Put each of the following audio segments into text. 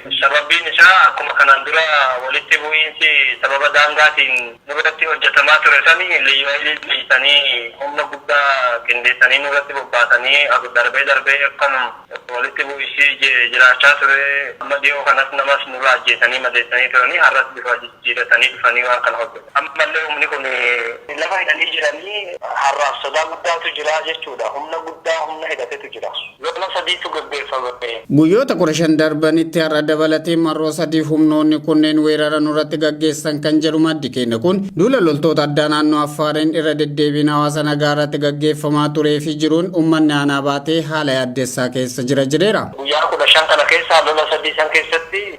Sababbiin isaa akkuma kanaan dura walitti bu'iinsi sababa daangaatiin nurratti hojjetamaa ture sani Liyyu Hayiliin dhiisanii humna guddaa qindeessanii nurratti bobbaasanii darbee darbee akkanum walitti bu'iisi jiraachaa ture amma dhiyoo kanas namas nurraa ajjeesanii madeessanii turanii har'as bifa jijjiiratanii dhufanii waan kana hojjetan ammallee humni kun lafa hidhanii jiranii har'aaf sodaa guddaatu jira jechuudha humna guddaa humna hidhatetu jira. Lola sadiitu gaggeeffame. Guyyoota kudha shan darbanitti har'a dabalatee marroo sadiif humnoonni kunneen weerara nurratti gaggeessan kan jedhu maddi keenya kun, duula loltoota addaa naannoo Affaariin irra deddeebiin hawaasa nagaa irratti gaggeeffamaa turee fi jiruun ummanni aanaa Baatee haala yaaddessaa keessa jira jedheera. Guyyaa kudha shan kana keessaa lola sadii san keessatti.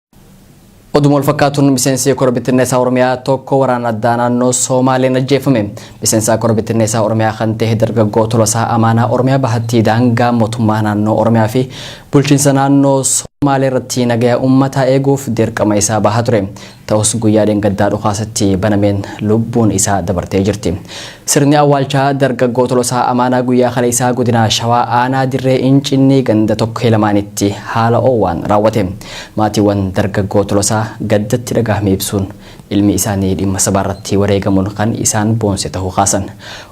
Oduma wal fakkaatuun miseensi kora bittinneessaa Oromiyaa tokko waraana addaa naannoo Soomaaleen ajjeefame. Miseensaa kora bittinneessaa Oromiyaa kan ta'e dargaggoo Tolasaa Amaanaa Oromiyaa bahattii daangaa mootummaa naannoo Oromiyaa fi bulchiinsa naannoo Soomaalee irratti nagaya uummataa eeguuf dirqama isaa bahaa ture. Ta'us guyyaa dheengaddaa dhukaasatti banameen lubbuun isaa dabartee jirti. Sirni awwaalchaa dargaggoo Tolosaa Amaanaa guyyaa kaleessaa godina Shawaa aanaa Dirree Incinnii ganda Tokkee Lamaanitti haala oowwaan raawwate. Maatiiwwan dargaggoo Tolosaa gaddatti dhagahame ibsuun, ilmi isaanii dhimma sabaarratti wareegamuun kan isaan boonse tahuu kaasan.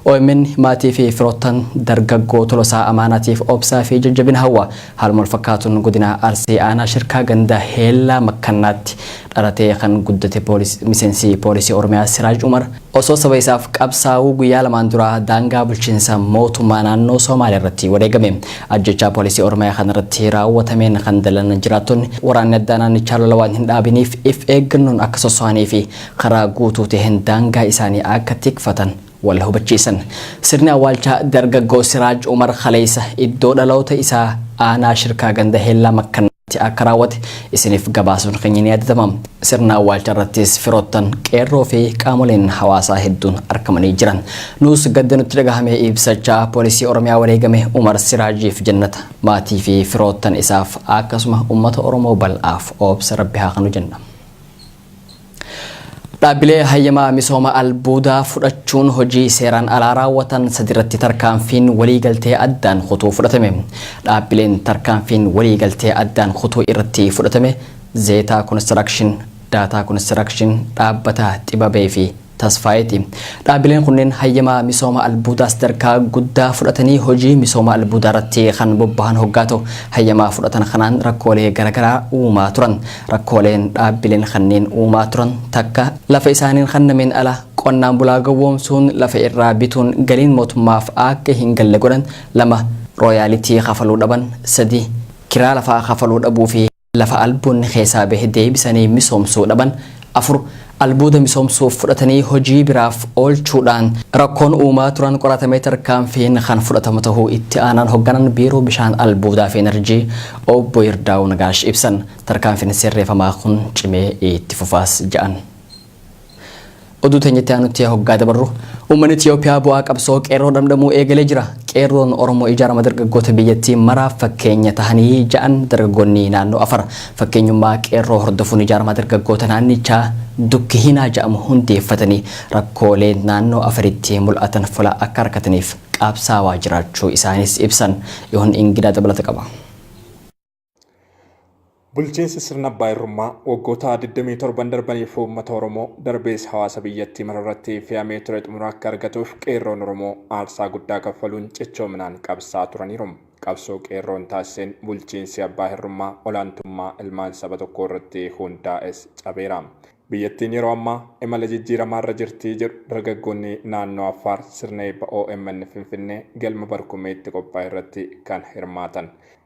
Omn maatiifi firoottan dargaggoo Tolosaa Amaanaatiif obsaafi jajjabina hawwa. Haaluma walfakkaatuun godina Arsii aanaa Shirkaa ganda Heellaa Makkannaatti dhalatee kan guddate miseensi poolisii Oromiyaa Siraaj Umar osoo saba isaaf qabsaa'uu guyyaa lamaan dura daangaa bulchiinsa mootummaa naannoo Soomaaliyaa irratti wareegame. Ajjechaa poolisii Oromiyaa kanarratti raawwatameen kan dallan jiraattonni waraanni addaa naannichaa lola waan hin dhaabiniif if eeggannoon akka sosso'anii fi karaa guutuu ta'een daangaa isaanii akka tikfatan wal hubachiisan. Sirni awwaalchaa dargaggoo Siraaj Umar kaleessa iddoo dhaloota isaa aanaa Shirkaa ganda Heellaa Makkannaatti akka raawwate isiniif gabaasuun keenya ni yaadatama. Sirna awwaalchaa irrattis firoottan, qeerroo fi qaamoleen hawaasaa hedduun argamanii jiran. Nuus gadda nutti dhagahame ibsachaa poolisii Oromiyaa wareegame Umar Siraajiif jannata, maatii fi firoottan isaaf akkasuma uummata Oromoo bal'aaf obsa Rabbi haa kanu jenna. Dhaabbilee hayyama misooma albuudaa fudhachuun hojii seeraan alaa raawwatan sadiirratti tarkaanfiin waliigaltee addaan kutuu fudhatame. Dhaabbileen tarkaanfiin waliigaltee addaan kutuu irratti fudhatame Zeetaa Konistirakshin, Daataa Konistirakshin, Dhaabbata Xibabee fi Tasfaayeeti. Dhaabileen kunneen hayyama misooma albuudaa sadarkaa guddaa fudhatanii hojii misooma albuudaarratti kan bobbahan hoggaa ta'u, hayyama fudhatan kanaan rakkoolee garagaraa uumaa turan. Rakkooleen dhaabbileen kanneen uumaa turan takka lafa isaaniin kannameen ala qonnaan bulaa gowwoomsuun lafa irraa bituun galiin mootummaaf akka hin galle godhan, lama rooyaalitii kafaluu dhaban, sadii kiraa lafaa kafaluu dhabuufi. lafa albuudni keessaa bahe deebisanii misoomsuu dhaban 4. Albuuda misoomsuuf fudhatanii hojii biraaf oolchuudhaan rakkoon uumaa turan qoratamee tarkaanfiin kan fudhatamu tahuu Itti Aanaan Hogganaan Biiroo Bishaan Albuudaa fi Inarjii Obbo Yirdaawu Nagaash ibsan. Tarkaanfiin sirreefamaa kun cimee itti fufaas ja'an. Oduu teenya itti aanutti hoggaa dabarru uummanni Itiyoophiyaa bu'aa qabsoo qeerroo dhamdhamuu eegalee jira. Qeerroon Oromoo ijaarama dargaggoota biyyattii maraaf fakkeenya tahanii ja'an dargaggoonni naannoo Afar. Fakkeenyummaa qeerroo hordofuun ijaarama dargaggoota naannichaa Dukki Hinaa ja'amu hundeeffatanii rakkoolee naannoo Afaritti mul'atan fula akka arkataniif qaabsaawaa jiraachuu isaaniis ibsan. Yoon Ingidaa dabalata qaba. Bulchiinsi sirna abbaa irrummaa waggoota 27 darbaniif uummata Oromoo darbees hawaasa biyyattii mararratti fe'amee ture xumura akka argatuuf qeerroon Oromoo aarsaa guddaa kaffaluun cichoominaan qabsaa turaniiru. Qabsoo qeerroon taasiseen bulchiinsi abbaa hirrummaa olaantummaa ilmaan saba tokkoo irratti hundaa'es cabeera. Biyyattiin yeroo ammaa imala jijjiiramaa irra jirti jedhu dargaggoonni naannoo Affaar sirna eebba omn Finfinnee galma Barkumeetti qophaa'e irratti kan hirmaatan.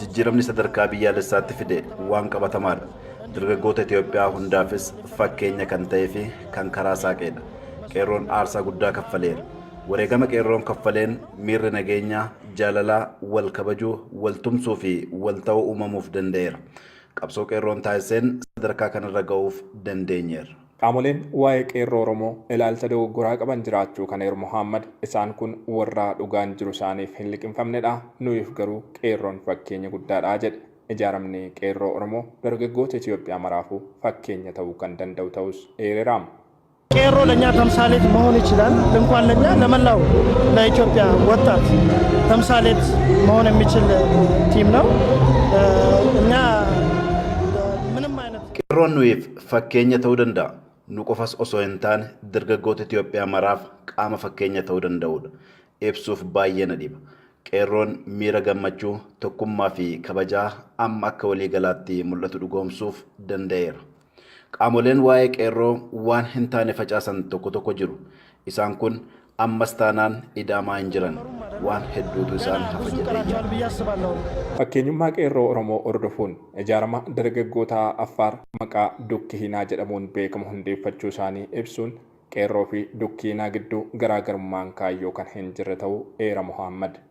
jijjiiramni sadarkaa biyyaalessaatti fide waan qabatamaadha. Dargaggoota Itoophiyaa hundaafis fakkeenya kan ta'eefi kan karaa saaqeedha. Qeerroon aarsaa guddaa kaffaleera. Wareegama Qeerroon kaffaleen miirri nageenyaa, jaalalaa, wal kabajuu, wal tumsuufi wal ta'uu uumamuuf danda'eera. Qabsoo Qeerroon taasiseen sadarkaa kanarra ga'uuf dandeenyeerra. Qaamoleen waa'ee Qeerroo Oromoo ilaalcha dogoggoraa qaban jiraachuu kan eeru Mohaammad, isaan kun warraa dhugaan jiru isaaniif hin liqimfamnedha, nuyiif garuu Qeerroon fakkeenya guddaadha jedhe. Ijaaramni Qeerroo Oromoo dargaggoota Itoophiyaa maraafuu fakkeenya ta'uu kan danda'u ta'uus eerera. Qeerroo Lanyaa Tamsaalet Mahoon Ichilaal Inkwaan Lanyaa Lamallaaw Laityoophiyaa Wattaat Tamsaalet Mahoon Emmichil Tiim Naw Qeerroon nuyiif Fakkeenya ta'uu danda'a. Nu qofas osoo hin taane dargaggoota Itoophiyaa maraaf qaama fakkeenya ta'uu danda'udha. Ibsuuf baay'ee na dhiba. Qeerroon miira gammachuu, tokkummaa fi kabajaa amma akka waliigalaatti mul'atu dhugoomsuuf danda'eera. Qaamoleen waa'ee Qeerroo waan hin taane facaasan tokko tokko jiru. Isaan kun ammas taanaan ida'amaa hin jiran. Waan hedduutu isaan hafa jedheen yaada. Fakkeenyummaa Qeerroo Oromoo hordofuun, ijaarama dargaggoota Affaar maqaa Dukkihinaa jedhamuun beekamu hundeeffachuu isaanii ibsuun, Qeerroo fi Dukkihinaa gidduu garaagarummaan kaayyoo kan hin jirre ta'uu eera Mohaammad.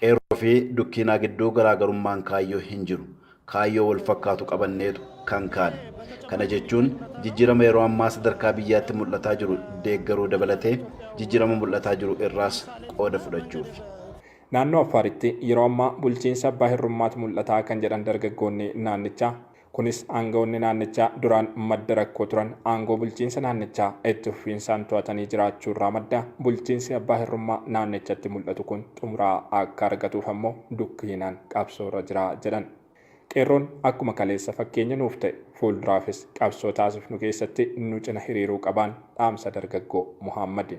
Qeerroo fi Dukkiinaa gidduu garaagarummaan kaayyoo hin jiru. Kaayyoo wal fakkaatu qabanneetu kan kaane. Kana jechuun jijjiirama yeroo ammaa sadarkaa biyyaatti mul'ataa jiru deeggaruu dabalatee jijjiirama mul'ataa jiru irraas qooda fudhachuufi. Naannoo Affaaritti yeroo ammaa bulchiinsa abbaa hirrummaatu mul'ata kan jedhan dargaggoonni naannichaa, Kunis aanga'oonni naannichaa duraan madda rakkoo turan aangoo bulchiinsa naannichaa itti fufiinsaan to'atanii jiraachuu irraa madda. Bulchiinsi abbaa hirrummaa naannichatti mul'atu kun xumura akka argatuuf ammoo dukkiinaan qabsoo irra jira jedhan. Qeerroon akkuma kaleessa fakkeenya nuuf ta'e fuulduraafis qabsoo taasifnu keessatti nu cina hiriiruu qabaan dhaamsa dargaggoo Mohaammadi.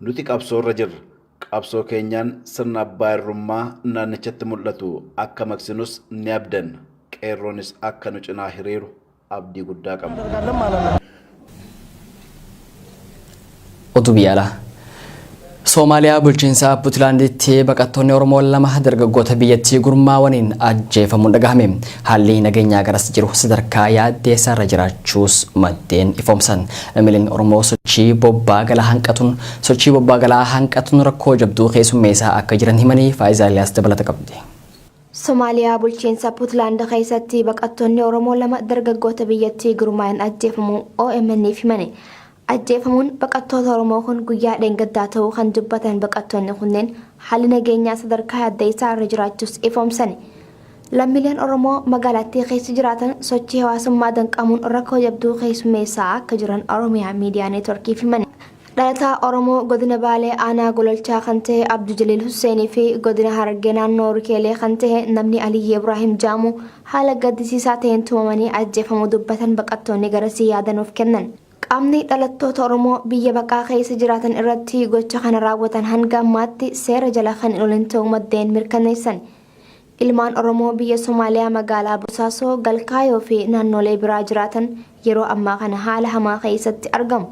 Nuti qabsoorra jirra. Qabsoo keenyaan sirna abbaa irrummaa naannichatti mul'atu akka maqsinus ni abdanna. Qeerroonis akka nu cinaa hiriiru abdii guddaa qabna. Oduu biyya alaa. Soomaaliyaa bulchiinsa Puntlaanditti baqattoonni Oromoo lama dargaggoota biyyattii gurmaawaniin ajjeefamuun dhagahame. Haalli nageenyaa garas jiru sadarkaa yaaddeessaa irra jiraachuus maddeen ifoomsan. Lammiileen Oromoo sochii bobbaa galaa hanqatuun sochii bobbaa galaa hanqatuun rakkoo jabduu keessummeessaa akka jiran himanii Faa'izaa Eliyaas dabalata qabdi. Somaaliyaa bulchiinsa Puntland keessatti baqattoonni Oromoo lama dargaggoota biyyattii gurmaa'een ajjeefamuu OMN'f himani. Ajjeefamuun baqattoota Oromoo kun guyyaa dheengaddaa ta'uu kan dubbatan baqattoonni kunneen haalli nageenyaa sadarkaa yaaddeessaa irra jiraachuus ifoomsani. Lammiileen Oromoo magaalattii keessa jiraatan sochii hawaasummaa danqamuun rakkoo jabduu keessummeessaa akka jiran Oromiyaa Miidiyaa Neetworkiif himani. Dhalataa Oromoo godina Baalee aanaa Gololchaa kan ta'e Abdu Jaliil Husseenii fi godina Harargee naannoo Rikeelee kan ta'e namni Aliyyii Ibraahim Jaamuu haala gaddisiisaa ta'een tumamanii ajjeefamuu dubbatan baqattoonni garasii yaada nuuf kennan. Qaamni dhalattoota Oromoo biyya baqaa keessa jiraatan irratti gocha kana raawwatan hanga ammaatti seera jala kan hin oolin ta'uu maddeen mirkaneessan. Ilmaan Oromoo biyya Somaaliyaa magaalaa Bosaasoo, Galkaayoo fi naannolee biraa jiraatan yeroo ammaa kana haala hamaa keessatti argamu.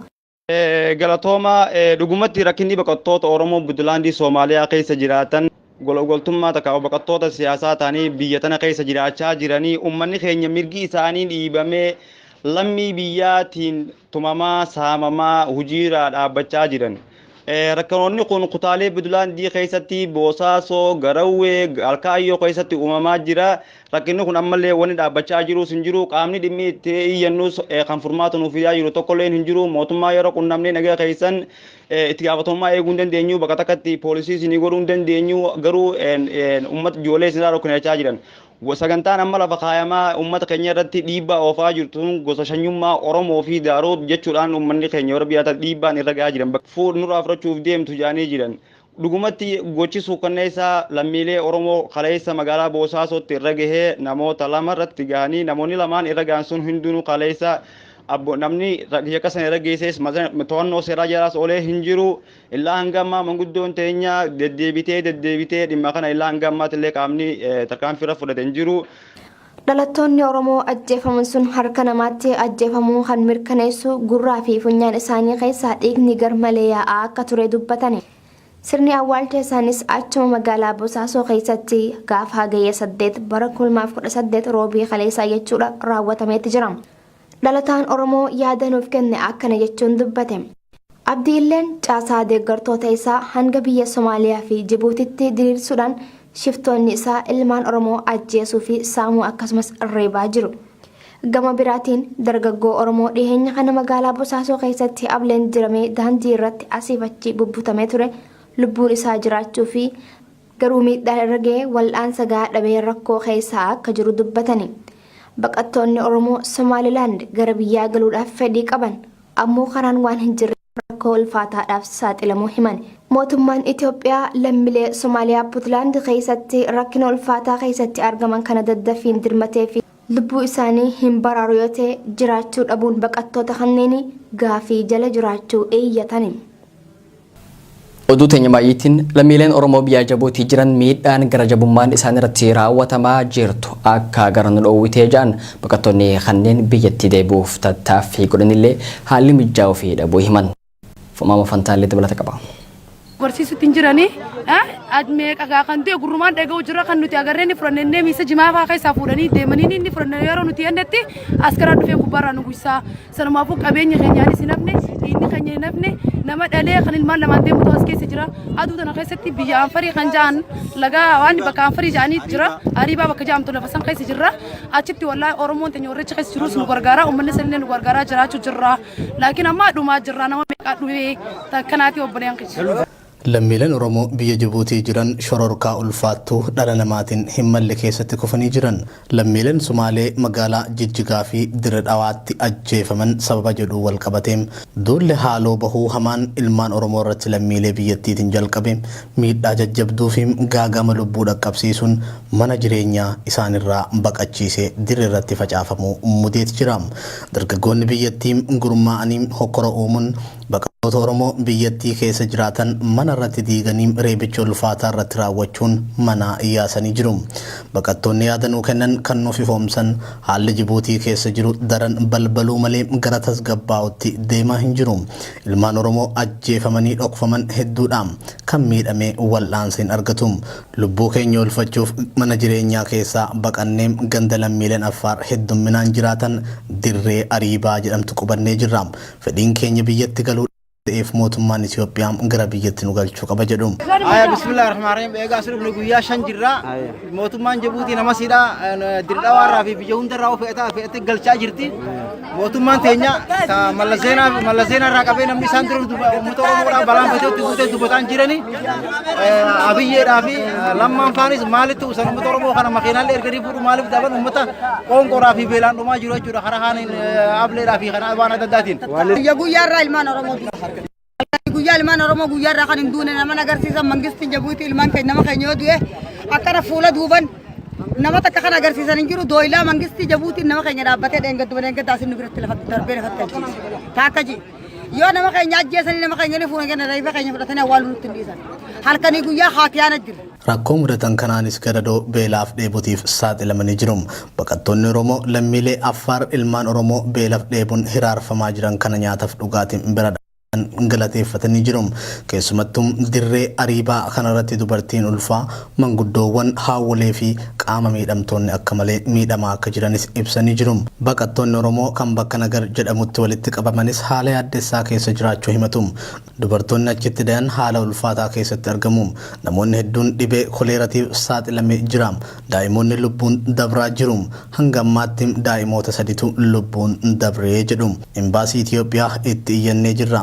Galatooma dhugumatti rakkinni baqattoota Oromoo Buntlaandii Soomaaliyaa keessa jiraatan Gologoltummaa takkaa'u baqattoota siyaasaa ta'anii biyya tana keessa jiraachaa jiranii ummanni keenya mirgi isaanii dhiibamee lammii biyyaatiin tumamaa, saamamaa, hujiiraa dhaabbachaa jiran. Rakkanoonni kun kutaalee Budulaandii keessatti Boosaasoo, Garawwee, Alkaayyoo keessatti uumamaa jira. Rakkinni kun ammallee wanni dhaabbachaa jiruus hin jiru. Qaamni dhimmi itti iyyannus kan furmaata nuuf fidaa jiru tokkolleen hin jiru. Mootummaa yeroo qunnamnee nagaa keessan itti gaafatamummaa eeguu hin dandeenyu bakka takkatti poolisii isinii godhuu hin dandeenyu garuu uummata ijoollee isinirraa dhokkinachaa jiran sagantaan amma lafa kaayamaa uummata keenya irratti dhiibbaa oofaa jirtu gosa shanyummaa Oromoo fi Daaroo jechuudhaan uummanni keenya warra biyyaata dhiibbaan irra gahaa jiran fuudh nurraa fudhachuuf deemtu jaanii jiran Dhugumatti gochi suukkanneessaa lammiilee Oromoo kaleessa magaalaa Boosaasootti irra gahe namoota lama irratti gahanii namoonni lamaan irra gahan sun hundinuu kaleessa abbo namni yakka sana irra geessees to'annoo seeraa jalaas oolee hin jiru illaa hanga ammaa manguddoon teenya deddeebitee deddeebitee dhimma kana illaa hanga ammaatti illee qaamni tarkaanfii irra fudhate hin jiru. Dhalattoonni Oromoo ajjeefaman sun harka namaatti ajjeefamuu kan mirkaneessu gurraa fi funyaan isaanii keessaa dhiigni garmalee yaa'aa akka ture dubbatani. Sirni awwaalcha isaaniis achuma magaalaa Bosaasoo keessatti gaafa Hagayya 8 bara 2018 Roobii kaleessaa jechuudha raawwatameetti jira. Dhalataan Oromoo yaada nuuf kenne akkana jechuun dubbate. Abdi Illeen caasaa deeggartoota isaa hanga biyya Somaaliyaa fi Jibuutitti diriirsuudhaan shiftoonni isaa ilmaan Oromoo ajjeesuu fi saamuu akkasumas reebaa jiru. Gama biraatiin dargaggoo Oromoo dhiheenya kana magaalaa Bosaasoo keessatti ableen diramee daandii irratti asiif achi bubbutamee ture lubbuun isaa jiraachuu fi garuu miidhaa irra ga'ee wal'aansa gahaa dhabee rakkoo keessa akka jiru dubbatani. Baqattoonni Oromoo Somaalilaand gara biyyaa galuudhaaf fedhii qaban ammoo karaan waan hin jirre rakkoo ulfaataadhaaf saaxilamuu himan. Mootummaan Itoophiyaa lammilee Somaaliyaa Puntlaand keessatti rakkina ulfaataa keessatti argaman kana daddaffiin dirmatee fi lubbuu isaanii hin baraaru yoo ta'e jiraachuu dhabuun baqattoota kanneenii gaafii jala jiraachuu iyyatani. Oduu teenya maayyiitiin lammiileen Oromoo biyyaa Jabuutii jiran miidhaan gara jabummaan isaan irratti raawwatamaa jirtu akka gara nu dhoowwitee ja'an baqattoonni kanneen biyyatti deebi'uuf tattaaffii godhanillee haalli mijaa'uu fi dhabuu himan. Fumaama fantaallee dabalata qaba. barsiisutti hin jirani. Meeqa gaa kan du'e gurrumaan dhaga'u jira kan nuti agarree ni fudhanne inni miisa jimaa fa'aa keessaa fuudhanii deemanii ni fudhanne yeroo nuti yennetti askaraa dhufee gubbaarraa nu guysaa sanumaafuu qabeenya keenyaanis hin hafne dhiinni keenya hin hafne nama dhalee kan ilmaan lamaan deemutu as keessa jira aduu tana keessatti biyya anfarii kan ja'an lagaa waan bakka anfarii ja'anii jira ariibaa bakka ja'amtu lafa san keessa jirra achitti wallaahi oromoon teenya warricha keessa jirus nu gargaara uummanni sanillee nu gargaaraa jiraachuu jirra. Laakiin ammaa dhumaa jirraa nama meeqaa dhumee takkanaatii obboleen kiyya. Lammiileen Oromoo biyya Jibuutii jiran shororkaa ulfaattuu dhala namaatiin hin malle keessatti kufanii jiran. Lammiileen Sumaalee magaalaa Jijjigaa fi Dire Dhawaatti ajjeefaman sababa jedhuun wal qabatee duulli haaloo bahuu hamaan ilmaan Oromoo irratti lammiilee biyyattiitiin jalqabe miidhaa jajjabduu fi gaaga'ama lubbuu dhaqqabsiisuun mana jireenyaa isaanirraa baqachiise dirreerratti facaafamuu mudeet jira. Dargaggoonni biyyattii gurmaa'anii hokkora uumuun baqattoota Oromoo biyyattii keessa jiraatan mana irratti diiganii reebicha ulfaataa irratti raawwachuun manaa yaasanii jiru. Baqattoonni yaada nuu kennan kan nuuf ifoomsan haalli Jibuutii keessa jiru daran balbaluu malee gara tasgabbaa'utti deemaa hin jiru. Ilmaan Oromoo ajjeefamanii dhokfaman hedduudha. Kan miidhame wal'aansa hin argatu. Lubbuu keenya oolfachuuf mana jireenyaa keessaa baqannee ganda lammiileen Affaar heddumminaan jiraatan Dirree Ariibaa jedhamtu qubannee jirra. Fedhiin keenya biyyatti galuudha waan ta'eef mootummaan Itoophiyaa gara biyyatti nu galchuu qaba jedhu. Aya bismillah rahmaan rahim eegaa asirra dhufne guyyaa shan jirra mootummaan Jibuutii nama siidha dirqaa warraa fi biyya hundarraa of fe'ataa fe'attee galchaa jirti. Mootummaan teenya ta Mallas Zeenaa Mallas Zeenaa irraa qabee namni isaan dura duba- uummata Oromoodhaa balaan fayyootti buutee dubbataan jiranii eh, Abiyyeedhaa fi eh, Lammaan faanis maalitti usan uummata Oromoo kana makiinaallee erganii fuudhu maaliif daban uummata qoonqoodhaa fi beelaan dhumaa jiru jechuudha karaa haaniin eh, ableedhaa fi karaa waan adda addaatiin. Guyyaa guyyaa irraa ilmaan Oromoo Akkatti guyyaa ilmaan Oromoo guyyaa irraa kan hin duune nama agarsiisan mangistiin jabuuti ilmaan keenya nama keenya yoo du'e akkana fuula duuban nama takka kan agarsiisan hin jiru dooylaa mangistii jabuutiin nama keenya dhaabbatee dheengadduba dheengaddaa isin nu biratti lafa darbee lafatti ajjeese taakka jee yoo nama keenya ajjeesanii nama keenya ni fuuna kenna reefa keenya fudhatanii awwaaluu nutti hin dhiisan halkanii guyyaa haatiyaan ajjira. Rakkoo mudatan kanaanis gadadoo, beelaaf dheebutiif saaxilamanii jiru. Baqattoonni Oromoo lammiilee Affaar ilmaan Oromoo beelaf dheebun hiraarfamaa jiran kana nyaataf dhugaatin bira dhaabatan galateeffatanii jiru. Keessumattuu dirree Ariibaa kanarratti dubartiin ulfaa, manguddoowwan, haawwolee fi qaama miidhamtoonni akka malee miidhamaa akka jiranis ibsanii jiru. Baqattoonni Oromoo kan bakka Nagar jedhamutti walitti qabamanis haala yaaddessaa keessa jiraachuu himatu. Dubartoonni achitti dayan haala ulfaataa keessatti argamu. Namoonni hedduun dhibee koleeratiif saaxilame jira. Daa'imoonni lubbuun dabraa jiru. Hanga ammaatti daa'imoota saditu lubbuun dabre jedhu. Imbaasii Itiyoophiyaa itti iyyannee jirra.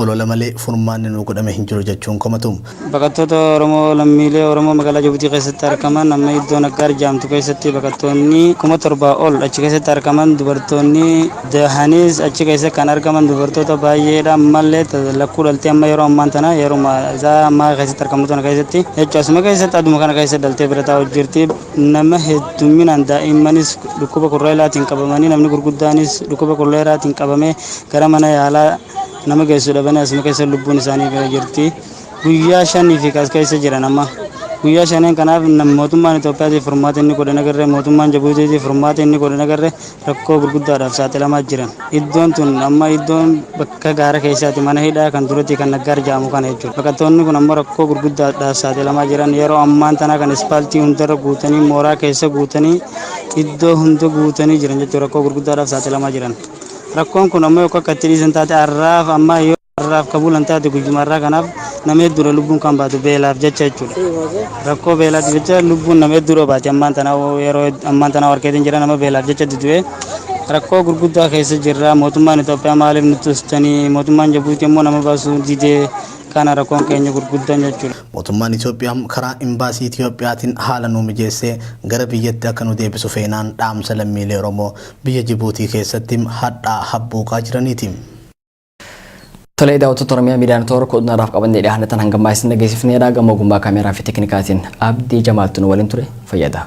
Olola malee furmaanni nuu godhame hin jiru jechuun komatu. Baqattoota Oromoo lammiilee Oromoo magaalaa Jabuutii keessatti argaman amma iddoo Naggaar jaamtu keessatti baqattoonni kuma torba ol achi keessatti argaman dubartoonni dahaniis achi keessa kan argaman dubartoota baay'eedha ammallee lakkuu dhaltee amma yeroo ammaan tana yeruma isaa ammaa keessatti argamu tana keessatti jechuun asuma keessatti aduma kana keessa dhaltee bira taa'u jirti nama heddumminaan daa'immanis dhukkuba kurreelaatiin qabamanii namni gurguddaanis dhukkuba kurreelaatiin qabamee gara mana yaalaa Nama geessu dhabanii asuma keessa lubbuun isaanii ba'ee jirti. Guyyaa shaniif as keessa jiran amma. Guyyaa shaneen kanaaf mootummaan Itoophiyaatiif furmaata inni godhan agarree mootummaan Jabuutiitiif furmaata inni godhan agarree rakkoo gurguddaadhaaf saaxilamaa jiran. Iddoon tun amma iddoon bakka gaara keessaati mana hidhaa kan duratii kan naggaar ja'amu kana jechuudha. Baqattoonni kun ammoo rakkoo gurguddaadhaaf saaxilamaa jiran yeroo ammaan tanaa kan ispaaltii hundarra guutanii mooraa keessa guutanii iddoo hunda guutanii jiran jechuudha rakkoo gurguddaadhaaf saaxilamaa jiran. Rakkoon kun ammoo yokko akka itti dhiisan taate arraaf ammaa yoo arraaf ka bulan taate guyyuma arraa kanaaf nama hedduudha lubbuun kan baatu beelaaf jecha jechuudha. Rakkoo beelaatiif jecha lubbuun nama hedduudha baati ammaan tana yeroo ammaan tana warkeetiin jira nama beelaaf jecha dudu'e rakkoo gurguddaa keessa jirra mootummaan Itoophiyaa maaliif nutti ustanii mootummaan Jabuutii ammoo nama baasuu didee kana rakkoon keenya gurguddaan jechuudha. Mootummaan Itoophiyaa karaa Imbaasii Itoophiyaatiin haala nuu mijeessee gara biyyatti akka nu deebisu feenaan dhaamsa lammiilee Oromoo Biyya Jibuutii keessatti hadhaa habbuuqaa jiraniiti. Tolee daawwattoota Oromiyaa Miidiyaa Netoor kooduu naraaf qabannee dhiyaanne tan hangammaa isin dhageessifneera gama ogummaa kaameeraa fi teeknikaatiin Abdii Jamaaltu nu waliin ture fayyada.